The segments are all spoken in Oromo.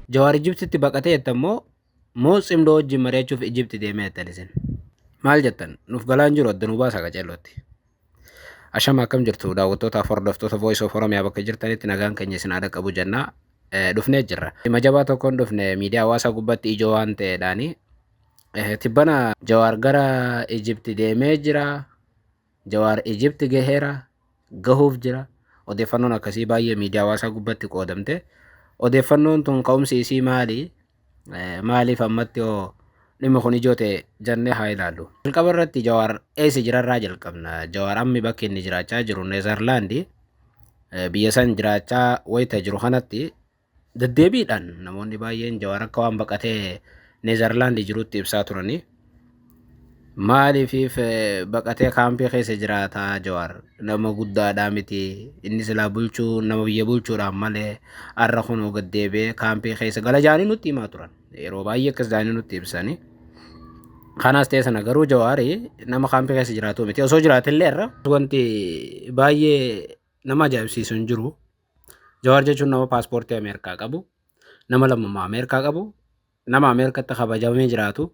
Jawaar Ijibtitti baqatee jettan moo moo tsimdoo wajjin mari'achuuf Ijibti deemee jettan isin? Maal jettan? Nuuf galaan jiru adda nu baasa qaceellootti. Ashama akkam jirtu daawwattootaaf hordoftoota Voice of Oromiyaa bakka jirtanitti nagaan keenya isin haa dhaqqabu jennaa eh, dhufnee jirra. Dhimma jabaa tokkoon dhufne miidiyaa hawaasaa gubbatti ijoo waan ta'eedhaani. Eh, Tibbana Jawaar gara Ijibti deemee jira. Jawaar Ijipti gaheera, gahuuf jira. Odeeffannoon akkasii baay'ee miidiyaa hawaasaa gubbatti qoodamte. Odeeffannoon tun ka'umsi isii maali? Maaliif ammatti hoo dhimmi kun ijoo ta'e jannee haa ilaallu. Jalqaba irratti Jawaar eessa jirarraa jalqabna. Jawaar ammi bakki inni jiraachaa jiru Neezarlaandi. Biyya san jiraachaa wayita jiru kanatti Deddeebiidhaan namoonni baay'een Jawaar akka waan baqatee Neezarlaandi jirutti ibsaa turani. Maaliif baqatee kaampii keessa jiraata Jawaar nama guddaadhaa miti inni silaa bulchuu nama biyya bulchuudhaan malee har'a kunoo gad deebi'ee kaampii keessa gala jaanii nutti himaa turan yeroo baay'ee akkas jaanii nutti ibsani. Kanas ta'e sana garuu Jawaari nama kaampii keessa jiraatu miti osoo jiraatillee irra wanti baay'ee nama ajaa'ibsiisu hin jiru. Jawaar jechuun nama paaspoortii Ameerikaa qabu, nama lammummaa Ameerikaa qabu, nama Ameerikaatti kabajamee jiraatu,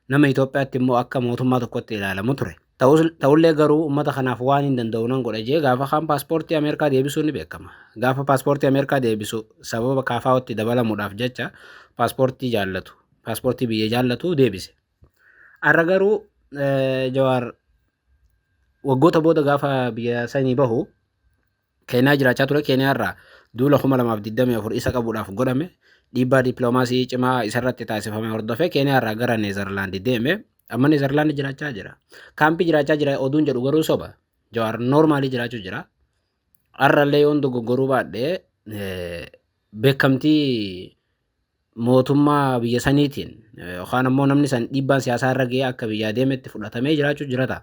nama Itoophiyaatti immoo akka mootummaa tokkotti ilaalamu ture. Ta'ullee garuu uummata kanaaf waan hin danda'u nan godha jee gaafa kaan paaspoortii Ameerikaa deebisuu ni beekama. Gaafa paaspoortii Ameerikaa deebisu sababa kaafaa'ootti dabalamuudhaaf jecha paaspoortii jaallatu, paaspoortii biyya jaallatu deebise. Har'a garuu Jawaar waggoota booda gaafa biyya sanii bahu Keeniyaa jiraachaa ture Keeniyaarraa duula 2024 isa qabuudhaaf godhame dhiibbaa dippiloomaasii cimaa isarratti taasifame hordofee Keeniyaarraa gara Neezarlaandi deeme amma Neezarlaandi jiraachaa jira. Kaampii jiraachaa jira oduun jedhu garuu soba. Jawaar noormaalii jiraachuu jira. Har'allee yoon dogoggoruu baadhee beekamtii mootummaa biyya saniitiin yookaan ammoo namni san dhiibbaan siyaasaa irra ga'ee akka biyyaa deemetti fudhatamee jiraachuu jirata.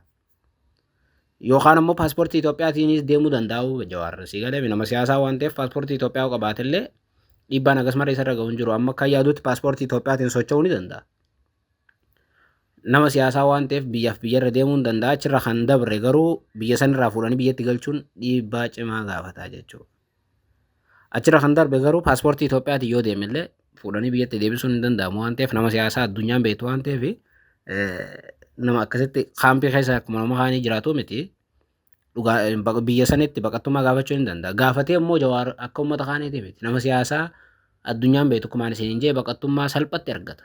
Yookaan ammoo paaspoortii Itoophiyaatiinis deemuu danda'u Jawaar. Si galee nama siyaasaa waan ta'eef paaspoortii Itoophiyaa qabaatellee dhiibbaan akkas malee isarra ga'u hin jiru. Amma akka yaadutti paaspoortii Itoophiyaatiin socho'uu ni danda'a. Nama siyaasaa waan ta'eef biyyaaf biyyarra deemuu ni danda'a. Achirra kan dabre garuu biyya sanirraa fuudhanii biyyatti galchuun dhiibbaa cimaa gaafata jechuudha. Achirra kan darbe garuu paaspoortii Itoophiyaatiin yoo deeme illee fuudhanii biyyatti deebisuun hin danda'amu waan ta'eef nama siyaasaa addunyaan beektu waan ta'eef nama akkasitti kaampii keessa akkuma nama kaanii jiraatu miti. Dhugaa biyya sanitti baqattummaa gaafachuu hin danda'a. Gaafatee immoo jawaar akka uummata kaaniiti miti. Nama siyaasaa addunyaan beektu kumaan isin hin jee baqattummaa salphatti argata.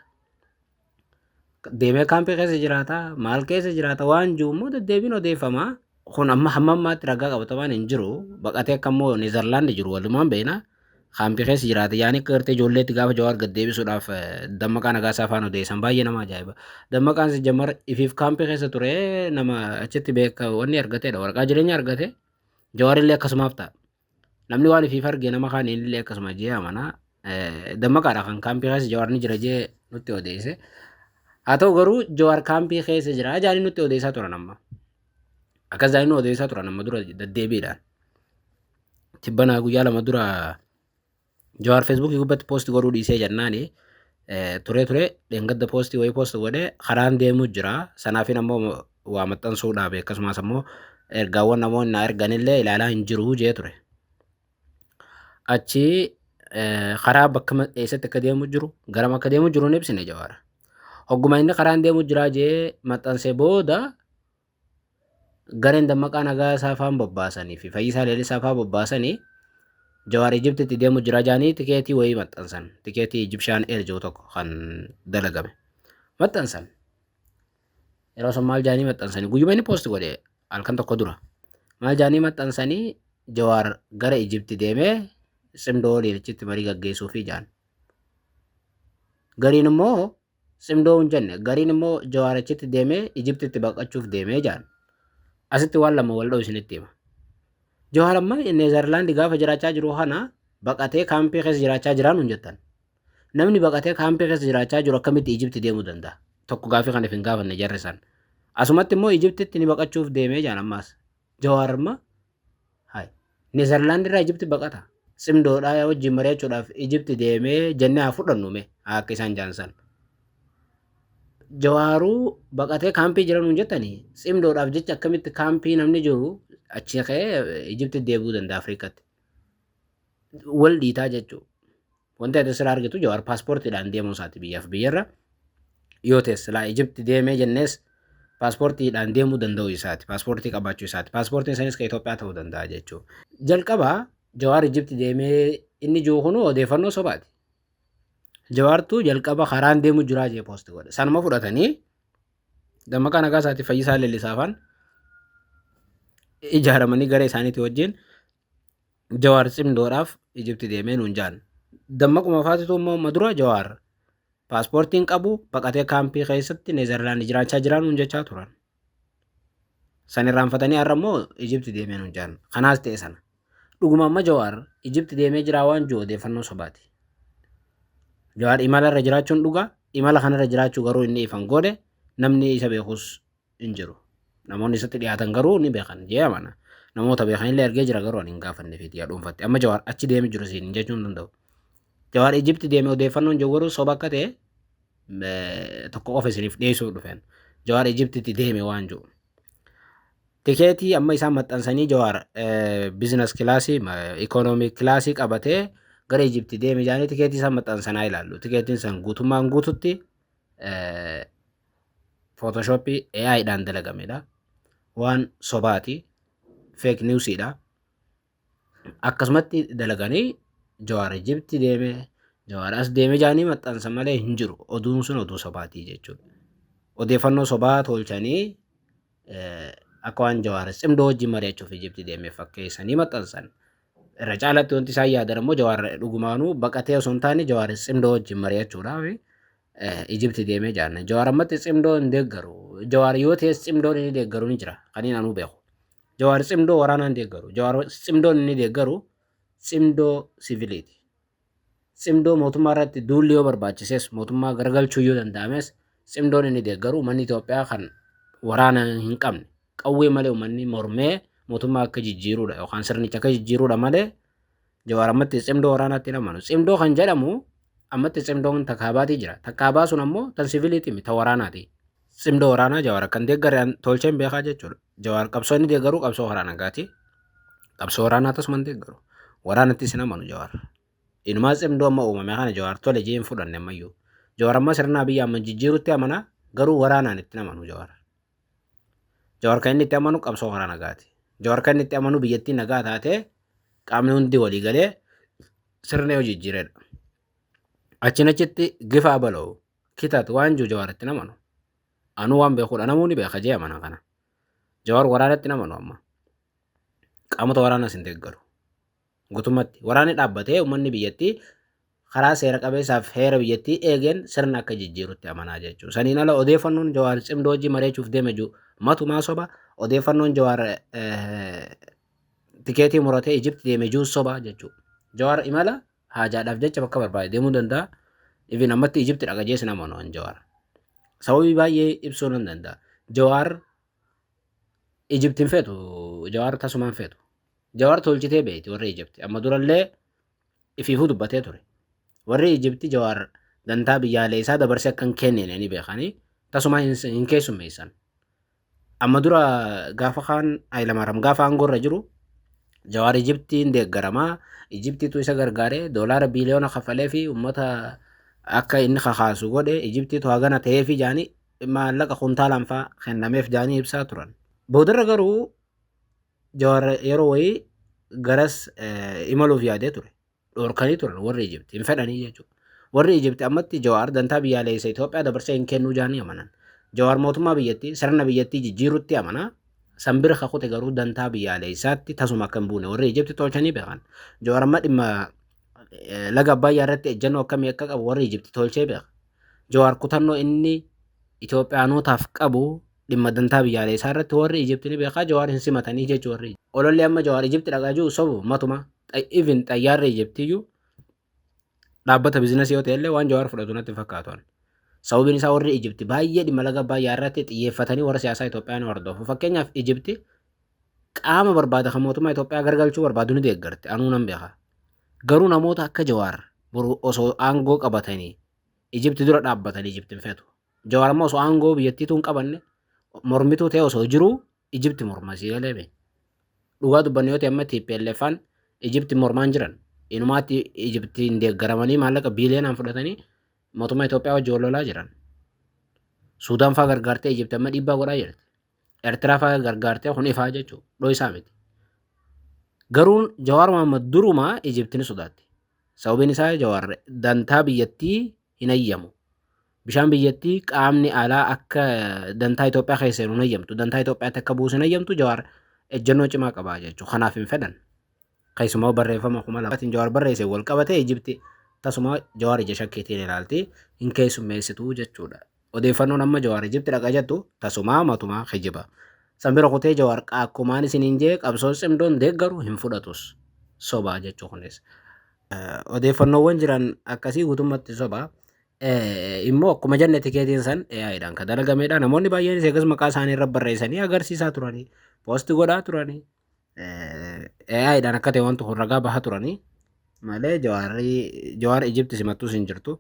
deemee kaampii keessa jiraata maal keessa jiraata waan jiru immoo deddeebiin odeeffama kun amma hamma ammaatti ragaa qabatamaan hin jiru baqatee akka immoo Neezerlaandi jiru walumaan beekna kaampii keessa jiraata yaani akka gartee ijoolleetti gaafa jawaar gad deebisuudhaaf eh, dammaqaa nagaasaa afaan odeessan baay'ee nama ajaa'iba dammaqaan si jammar ifiif kaampii keessa ture nama achitti beeka wanni argateedha waraqaa jireenya argate jawaarillee akkasumaaf ta'a. Namni waan ifiif arge nama kaan illee akkasuma jee amana. Dammaqaadha kan kaampii keessa Jawaar ni jira jee nutti odeesse. Haa ta'u garuu Jawaar kaampii keessa jira jaanii nutti odeessaa turan amma. Akkas jaanii nu odeessaa turan amma dura deddeebiidhaan. Tibbanaa guyyaa lama dura Jawaar Feesbuukii gubbatti poosti godhuu dhiisee jennaani turee turee dheengadda poostii wayii poosti godhee karaan deemuu jira. Sanaafin ammoo waa maxxansuu dhaabe akkasumas ammoo ergaawwan namoonni naa erganillee ilaalaa hin jiru jee ture. Achi karaa bakka eessatti akka deemuu jiru garama akka deemuu jiru hin ibsine jawaara. Hogguma inni karaan deemuu jira jee maxxansee booda gareen dammaqaa nagaa saafaan bobbaasanii fi fayyisaa leellisaa faa bobbaasanii jawaar ijibtitti deemu jira jaanii tikeetii wayii maxxansan tikeetii ijibshaan eer jiru tokko kan dalagame maxxansan yeroo san maal jaanii maxxansanii guyyuma inni poosti godhe halkan tokko dura maal jaanii maxxansanii jawaar gara ijibti deemee cimdoo leelichitti marii gaggeessuu fi jaan gariin immoo Tsimdoo hin jenne. Gariin immoo Jawaar achitti deemee Ijiptitti baqachuuf deemee jedhan. Asitti waan lama wal dha'u isinitti hima. Jawaar amma Neezarlaandi gaafa jiraachaa jiru kana baqatee kaampii keessa jiraachaa jiraa nuun jettan. Namni baqatee kaampii keessa jiraachaa jiru akkamitti Ijipti deemuu danda'a? Tokko gaafii kana hin gaafanne jarri san. Asumatti immoo Ijiptitti ni baqachuuf deemee jedhan ammaas. Jawaar amma Hay. Nezerlaand irraa Ijipti baqata. Simdoodhaa yaa wajjin mari'achuudhaaf Ijipti deemee jennee haa fudhannu mee haa akka isaan jaansan. Jawaaruu baqatee kaampii jira nuun jettanii simdoodhaaf jecha akkamitti kaampii namni jiru achi ka'ee Ijipti deebi'uu danda'a Afrikatti. Wal dhiitaa jechuudha. Wanti ati sirraa argitu Jawaar paaspoortiidhaan deemuu isaati biyyaaf biyyarra. Yoo ta'es silaa Ijipti deemee jennees paaspoortiidhaan deemuu danda'uu isaati. Paaspoortii qabaachuu isaati. Paaspoortiin isaaniis kan Itoophiyaa ta'uu danda'a jechuudha. Jalqaba Jawaar Ijipti deemee inni jiru kun odeeffannoo sobaati. Jawaartu jalqaba karaan deemu jiraa jee poosti godhe. Sanuma fudhatanii dammaqaa nagaa isaati fayyisaa leellisaafaan ijaaramanii gara isaaniitii wajjin Jawaar cimdoodhaaf Ijipti deemee nuun jaan. Dammaquma faatitu immoo amma dura Jawaar paaspoortiin qabu baqatee kaampii keessatti Neezerlaandi jiraachaa jiraa nuun jechaa turan. San irraanfatanii har'a immoo Ijipti deemee nuun jaan. Kanaas ta'e sana. Dhuguma amma Jawaar Ijipti deemee jiraa waan jiru odeeffannoo sobaati. Jawaar imala irra jiraachuun dhugaa imala kanarra jiraachuu garuu inni ifan goone namni isa beekus hin jiru. Namoonni isatti dhiyaatan garuu ni beekan jee amana. Namoota beekan illee ergee jira garuu ani hin gaafanne fi yaa dhuunfatte. Amma Jawaar achi deemi jiru siin hin jechuu hin danda'u. Jawaar Ijipti deeme odeeffannoon jawwaruu soba akka ta'e tokko qofa isiniif dhiyeessuu dhufeen. Jawaar Ijiptitti deeme waan jiru. Tikeetii amma isaan maxxansanii Jawaar bizinas kilaasii ikoonoomii kilaasii qabatee gara Ijipti deeme jaanii tikeetii isaan maxxansanaa ilaallu. Tikeetiin san guutummaan guututti Photoshop AI dhaan dalagamedha. Waan sobaati. Fake news dha. Akkasumatti dalaganii jawaar Ijibti deeme jawaar as deeme jaanii maxxansa malee hin jiru. Oduun sun oduu sobaatii jechuudha. Odeeffannoo sobaa tolchanii akka waan jawaar cimdoo wajjin mari'achuuf Ijibti deeme fakkeessanii maxxansan. Irra caalatti wanti isaan yaadan ammoo jawaar dhugumaanuu baqatee osoo hin taane jawaar cimdoo wajjin mari'achuudhaaf Ijibti deemee jaanna. Jawaar ammatti cimdoo hin deeggaru. Jawaar yoo ta'es cimdoon inni deeggaru ni jira. Kan inni anuu beeku. Jawaar cimdoo waraanaa hin deeggaru. Jawaar cimdoon inni deeggaru cimdoo siiviliiti. Cimdoo mootummaa irratti duulli yoo barbaachises mootummaa garagalchuu yoo danda'ames cimdoon inni deeggaru uummanni Itoophiyaa kan waraana hin qabne qawwee malee uummanni mormee mootummaa akka jijjiiruudha yookaan sirnicha akka jijjiiruudha malee Jawaar ammatti tsimdoo waraanaatti hin amanu. Tsimdoo kan jedhamu ammatti tsimdoon ta kaabaatii jira. Ta kaabaa sun ammoo tan siviiliitii miti ta waraanaati. Tsimdoo waraanaa Jawaar akka hin deeggarre an tolcheen beekaa jechuudha. Jawaar qabsoo inni deeggaru qabsoo karaa nagaati. Qabsoo waraanaa tasuma hin deeggaru. Waraanattis hin amanu Jawaar. Inumaa tsimdoo amma uumame kana Jawaar tole jee hin fudhanne ammayyuu. Jawaar amma sirna Abiyyi Ahmad jijjiirutti amana garuu waraanaan itti hin amanu Jawaar. Jawaar kan inni itti amanu qabsoo karaa nagaati. Jawaar kan inni itti amanu biyyattii nagaa taatee qaamni hundi walii galee sirna yoo jijjiiredha. Achiin achitti gifaa bala'u kitat waan jiru jawaar itti namanu. Anuu waan beekudha namuu ni beeka jee amana kana. Jawaar waraanatti namanu amma. Qaamota waraanas hin deeggaru. gutumatti waraanni dhaabbatee uummanni biyyattii karaa seera qabeessaaf heera biyyattii eegeen sirna akka jijjiirutti amanaa jechuudha. Saniin ala odeeffannoon Jawaar cimdoo hojii mareechuuf deeme jiru matumaa soba odeeffannoon Jawaar tikeetii muratee Ijipti deeme jiru soba jechuudha. Jawaar imala haajaadhaaf jecha bakka barbaade deemuu danda'a. Ifin ammatti Ijipti dhaqa jees nama waan Jawaar. Sababii baay'ee ibsuu nan danda'a. Jawaar Ijipti hin feetu Jawaar tasumaa hin feetu. Jawaar tolchitee beekti warri Ijipti. Amma durallee ifiifuu dubbatee ture. Warri Ijipti Jawaar dantaa biyyaalee isaa dabarsee akka hin kennine ni beekanii tasumaa hin, hin keessummeessan. Amma dura gaafa kaan Hayilamaariyaam gaafa aangoo irra jiru Jawaar Ijiptiin deeggaramaa Ijiptiitu isa gargaaree doolaara biiliyoona kafalee fi uummata akka inni kakaasu godhe Ijiptiitu hagana ta'ee fi jaanii maallaqa kuntaalaan faa kennameef jaanii ibsaa turan. Boodarra garuu Jawaar yeroo wayii garas imaluuf yaadee ture. Dhorkanii turan warri Ijibti hin fedhanii jechuudha. Warri Ijibti ammatti Jawaar dantaa biyyaaleessa Itoophiyaa dabarsee hin kennuu jaanii amanan. Jawaar mootummaa biyyattii sirna biyyattii jijjiirutti amana. San bira kakute garuu dantaa biyyaaleessaatti tasuma akka hin buune warri Ijibti tolchanii beekan. Jawaar amma dhimma laga Abbaayyaa irratti ejjennoo akkamii akka qabu warri Ijibti tolchee beeka. Jawaar kutannoo inni Itoophiyaanootaaf qabu dhimma dantaa biyyaalee isaa irratti warri Ijipti ni beekaa Jawaar hin simatanii jechu warri ololli amma Jawaar Ijipti dhaqaa jiru sobu matuma even xayyaarri Ijiptiyyuu dhaabbata bizinasii yoo ta'ellee waan Jawaar fudhatu natti hin fakkaatu ani. Sababiin isaa warri Ijipti baay'ee dhimma laga Abbaayyaa irratti xiyyeeffatanii warra siyaasaa Itoophiyaa ni hordofu. Fakkeenyaaf Ijipti qaama barbaada kan mootummaa Itoophiyaa gargalchuu barbaadu ni deeggarti anuu nan beeka. Garuu namoota akka Jawaar boru osoo aangoo qabatanii Ijipti dura dhaabbatanii Ijipti hin feetu. Jawaar ammoo osoo aangoo biyyattiituu hin qabanne mormituu ta'e osoo jiruu Ijipti morma sii galee bee. Dhugaa dubbanne yoo ta'e amma TPLFaan Ijipti mormaan jiran. Inumaatti Ijiptiin deeggaramanii maallaqa biiliyoonaan fudhatanii mootummaa Itoophiyaa wajjin wal lolaa jiran. Suudaan fa'aa gargaartee Ijipti amma dhiibbaa godhaa jirti. Eertiraa fa'aa gargaartee kun ifaa jechuudha. Dho'isaa miti. Garuu Jawaar Mohaammed durumaa Ijipti ni sodaatti. Sababiin isaa Jawaar dantaa biyyattii hin hayyamu. Bishaan biyyattii qaamni alaa akka dantaa Itoophiyaa keessa seenu hin hayyamtu. Dantaa Itoophiyaatti akka buusu hin hayyamtu Jawaar ejjennoo cimaa qaba jechuudha. Kanaaf hin fedhan. Keessumaa barreeffama 2000tiin Jawaar barreesseen wal qabatee Ijipti tasuma Jawaar ija shakkiitiin ilaalti, hin keessummeessitu jechuudha. Odeeffannoon amma Jawaar Ijipti dhaqa jettu tasumaa matumaa kijiba. San bira kutee Jawaar akkumaan isiniin jee qabsoo tsimdoon deeggaru hin fudhatus. Soba jechuu kunis. Odeeffannoowwan jiran akkasii guutummatti soba. Immoo akkuma jenne tikeetiin san AI dhaan kan dalagameedha. Namoonni baay'eenis eegas maqaa isaanii irra barreessanii agarsiisaa turanii, poosti godhaa turanii. AI'dhaan akka ta'e wanti kun ragaa bahaa turanii malee jawaarrii jawaar Ijipti simattus hin jirtu.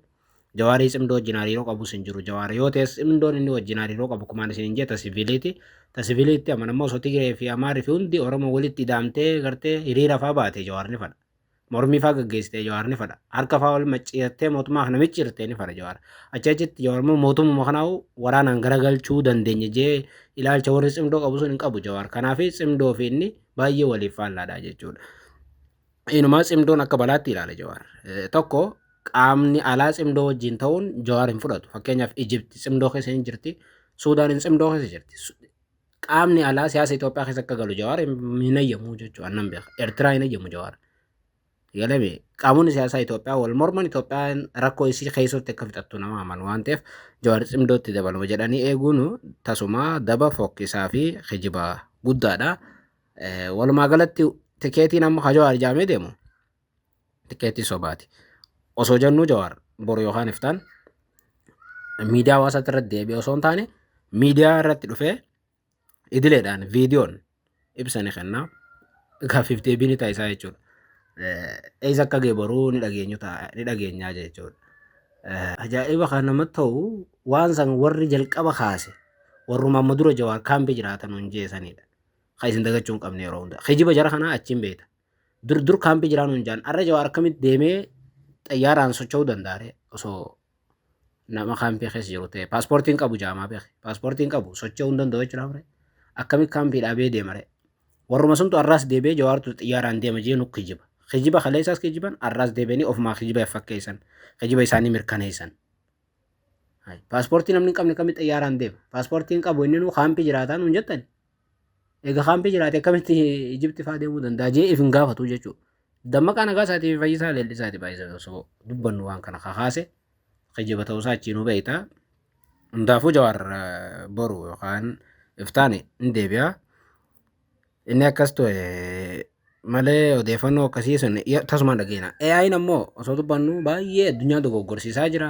Jawaarii cimdoo wajjin hariiroo qabus hin jiru. Jawaar yoo ta'es cimdoon inni wajjin hariiroo qabu kumaan isin hin jeta siviiliiti. Ta siviiliitti amanammoo osoo Tigiree fi Amaari fi hundi Oromoo walitti ida'amtee gartee hiriira fa'aa baate jawaar ni fadha. Mormii faa gaggeessitee jawaar ni fadha. Harka faa ol macciirtee mootummaa kana micciirtee ni fadha jawaar. Achi achitti jawaar immoo mootummaa kanaa waraanaan garagalchuu dandeenya jee ilaalcha warri cimdoo qabu sun hin qabu jawaar. Kanaaf cimdoo fi inni baay'ee waliif faallaadha jechuudha. Inumaa cimdoon akka balaatti ilaala jawaar. Tokko qaamni alaa cimdoo wajjin ta'uun jawaar hin fudhatu. Fakkeenyaaf Ijipti cimdoo keessa hin jirti. Suudaaniin cimdoo keessa jirti. qaamni alaa siyaasa Itoophiyaa keessa akka galu Jawaar hin hayyamu jechuudha annan beeka. Eertiraa hin hayyamu Jawaar. Galame qaamonni siyaasaa Itoophiyaa wal morman Itoophiyaan rakkoo isii keessatti akka fixattu nama amanu waan ta'eef Jawaar cimdootti dabalama jedhanii eeguun tasumaa daba fokkisaa fi kijiba guddaadha. Walumaa galatti tikeetiin amma Jawaar jaamee deemu Tikeetii sobaati. Osoo jennuu Jawaar boru yookaan iftaan miidiyaa hawaasaatti irratti deebi'ee osoo hin taane miidiyaa irratti dhufee idileedhaan viidiyoon ibsa ni kenna. Gaaffiif deebii ni taasisaa jechuudha. Eessa akka ga'e boruu ni dhageenyu ta'a ni dhageenyaa jechuudha. Ajaa'iba kan namatti ta'u waan san warri jalqaba kaase warruma amma dura Jawaar kaampii jiraatan hin jeesanidha. Kan isin dagachuu hin qabne yeroo hunda. Kijiba jara kanaa achiin beekta. Dur dur kaampii jiraa nuun jaan. Arra jawaar akkamitti deemee xayyaaraan socho'uu dandaare osoo nama kaampii keessa jiru ta'e. Paaspoortiin qabu jaamaa beeke. Paaspoortiin qabu socho'uu hin danda'u jechuudha mure. Akkamitti kaampii dhaabee deemare. Warruma suntu arraas deebi'ee jawaartu xayyaaraan deema jee nu kijiba. Kijiba kaleessaas kijiban arraas deebi'anii ofumaa kijiba fakkeessan. Kijiba isaanii mirkaneessan. Paaspoortii namni hin qabne kamitti xayyaaraan deema. Paaspoortiin qabu inni nu kaampii jiraataa nuun jettani. Egaa kaampii jiraate akkamitti Ijipti fa'aa deemuu danda'a jee if hin gaafatu jechuudha. Dammaqaa nagaa isaatii fi fayyisaa leellisaati baay'isa osoo dubbannu waan kana kakaase kijiba ta'uusaa achiin nu beekta. Hundaafuu jawaar eh, boru yookaan iftaani hin deebi'a. Inni akkas ta'e malee odeeffannoo akkasii sun ya- tasumaan dhageena. AI'n ammoo osoo dubbannu baay'ee addunyaa dogoggorsiisaa jira.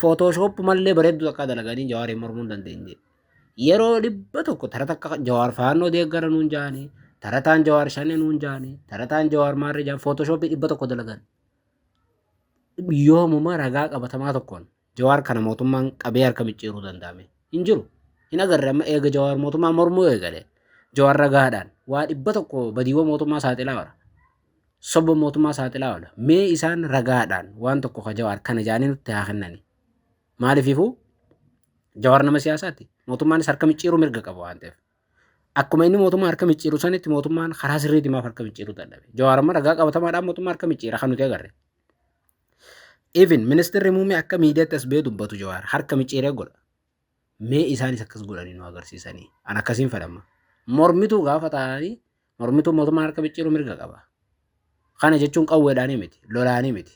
Photoshop mallee bareedduu takkaa dalaganii jawaariin mormuu hin dandeenye. Yeroo dhibba tokko tara takka jawaar faannoo deeggara nuun jaanii tarataan jawaar shanee nuun jaanii tarataan jawaar maarree jaan Photoshop dhibba tokko dalagan. Yoomuma ragaa qabatamaa tokkoon jawaar kana mootummaan qabee harka micciiruu danda'ame hin jiru. Hin agarre amma eega jawaar mootummaa mormuu eegale jawaar ragaadhaan waa dhibba tokko badiiwwan mootummaa saaxilaa bara. soba mootummaa saaxilaa oola. Mee isaan ragaadhaan waan tokko ka jawaar kana jaanii nutti haa kennani. Maaliififuu jawaar nama siyaasaati. Mootummaanis harka micciiruu mirga qaba waan ta'eef. Akkuma inni mootummaa harka micciiru sanitti mootummaan karaa sirriitti maaf harka micciiruu dadhabe. Jawaar amma ragaa qabatamaadhaan mootummaa harka micciira kan nuti agarre. Even ministirri muummee akka miidiyaatti as ba'ee dubbatu jawaar harka micciiree godha. Mee isaanis akkas godhanii nu agarsiisanii. An akkasiin fedhamma. Mormituu gaafa taa'anii mormituu mootummaa harka micciiruu mirga qaba. Kana jechuun qawweedhaanii miti, lolaanii miti.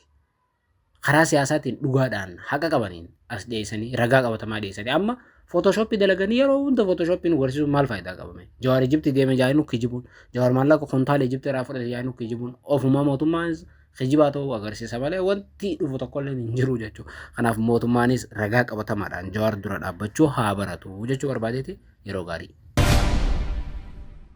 Karaa siyaasaatiin dhugaadhaan haqa qabaniin as dhiyeessanii ragaa qabatamaa dhiyeessanii amma footooshooppii dalaganii yeroo hunda footooshooppii nu garsiisuun maal faayidaa qabame? Jawaar Ijibtii deeme jaa'inu kijibuun, Jawaar maallaqa kontaala Ijibtii irraa fudhate jaa'inu kijibuun, ofuma mootummaan kijibaa ta'uu agarsiisa malee wanti dhufu tokkollee hin jiru jechuudha. Kanaaf mootummaanis ragaa qabatamaadhaan jawaar dura dhaabbachuu haa baratu jechuu barbaadeeti yeroo gaarii.